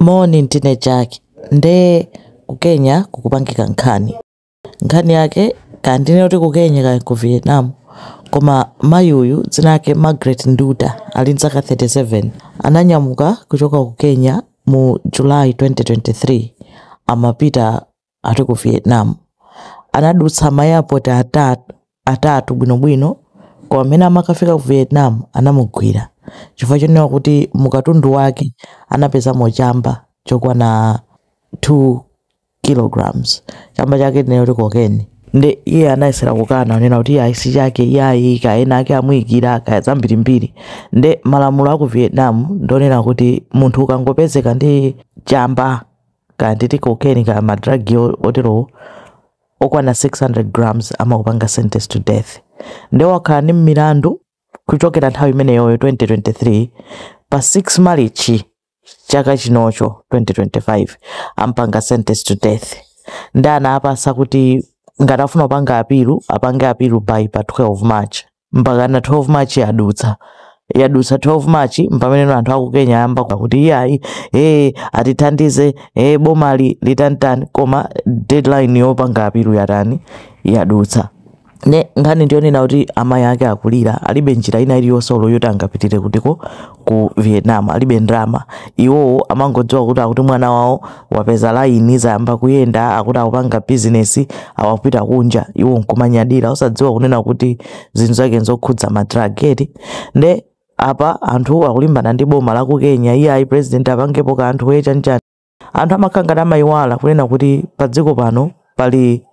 Moni ndine Jack ndiye ku Kenya kukupangika nkhani. Nkhani yake kaya ndinene kuti ku Kenya kaya ku Vietnam koma mayi uyu dzina lake Margaret Nduta ali ndi zaka 37 ananyamuka kuchoka ku Kenya mu July 2023 amapita ati ku vietnam anadutsa ma airport atatu bwinobwino koma mmene amakafika ku vietnam anamugwira chifukwa chonena kuti mukatundu wake anapezamo chamba chokwana 2 kilograms chamba chake tinene kuti kokeni nde iye anayesera kukana kunena kuti iyayi si chake iyayi kaya enaake amuyikira kaya zambirimbiri nde malamulo aku vietnam ndonena kuti munthu ukangopezeka ndi chamba kaya nditi cocaine kaya ma drug yo- otero okwana 600 grams amakupanga sentence to death nde wakhala ndi milandu kuchokera nthawi imeneyoyo 2023 pa 6 marichi chaka chinocho 2025 ampanga sentence to death nde anamupatsa kuti ngati afuna kupanga apilu apange apilu by pa 12 march mpakana 12 march yadutsa yadutsa 12 march mpameneno anthu aku kenya ayamba kuti iyayi ee atithandize ee bomali litani tani koma deadline yopanga apilu yatani yadutsa ne nkhani ndiyonena kuti amayi ake akulira alibe njira ina iliyonse olo yoti angapitire kutiko ku vietnam alibe ndalama iwowo amangodziwa kuti akuti mwana wawo wapeza laini zayamba kuyenda akuti akupanga bizinesi akapita kunja iwo nkumanyadira osadziwa kunena kuti zinthu zake nzokhudza ma drug eti nde apa anthu akulimbana ndi boma la ku kenya iyayi president apangepo kanthu ee chanichani anthu amakhala ngati amayiwala kunena kuti pa dziko pano pali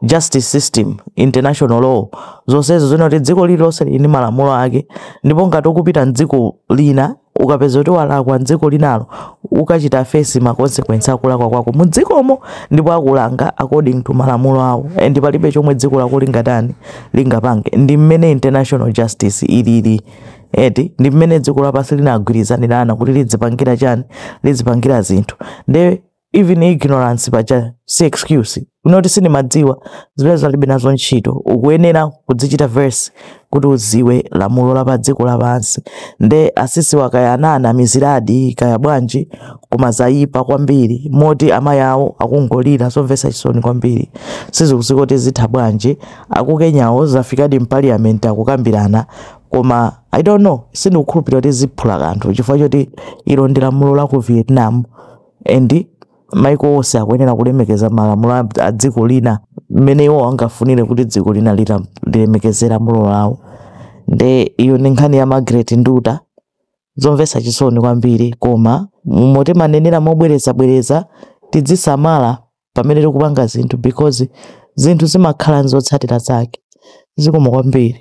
justice system international law zonsezo zinati dziko lililonse lili ndi malamulo ake ndipo ngati ukupita mdziko lina ukapezeka kuti walakwa mdziko linalo ukachita face ma consequence akulakwa kwako mu dzikomo ndipo akulanga according to malamulo awo and palibe chomwe dziko lako lingatani lingapange ndi mmene international justice ilili eti ndi mmene dziko lapansi linagwirizanirana kuti lidzipangira chani lidzipangira zinthu nde even ignorance paja si excuse yonoti sindimadziwa zimene zalibe nazo ntchito ukuyenera kudzichita verse kuti uziwe lamulo la pa dziko lapansi nde asisi wa kaya ananamiziradi kaya bwanji koma zayipa kwambiri moti amayi awo akungolira zomvetsa chisoni kwambiri sizikudziwika kuti zitha bwanji aku kenyawo zafikadi mpaliyamenti akukambirana koma i don't know sindikukhulupirira kuti ziphula kanthu chifukwa choti ilo ndi lamulo la ku vietnam and maiko onse akuyenera kulemekeza malamulo a- a dziko lina mmene iwo angafunire kuti dziko lina lita- lilemekeze lamulo lawo nde iyo ndi nkhani ya margaret nduta zomvetsa chisoni kwambiri koma mmo timanenera mobwerezabwereza tidzisamala pamene tikupanga zinthu because zinthu zimakhala nzotsatira zake zikomo kwambiri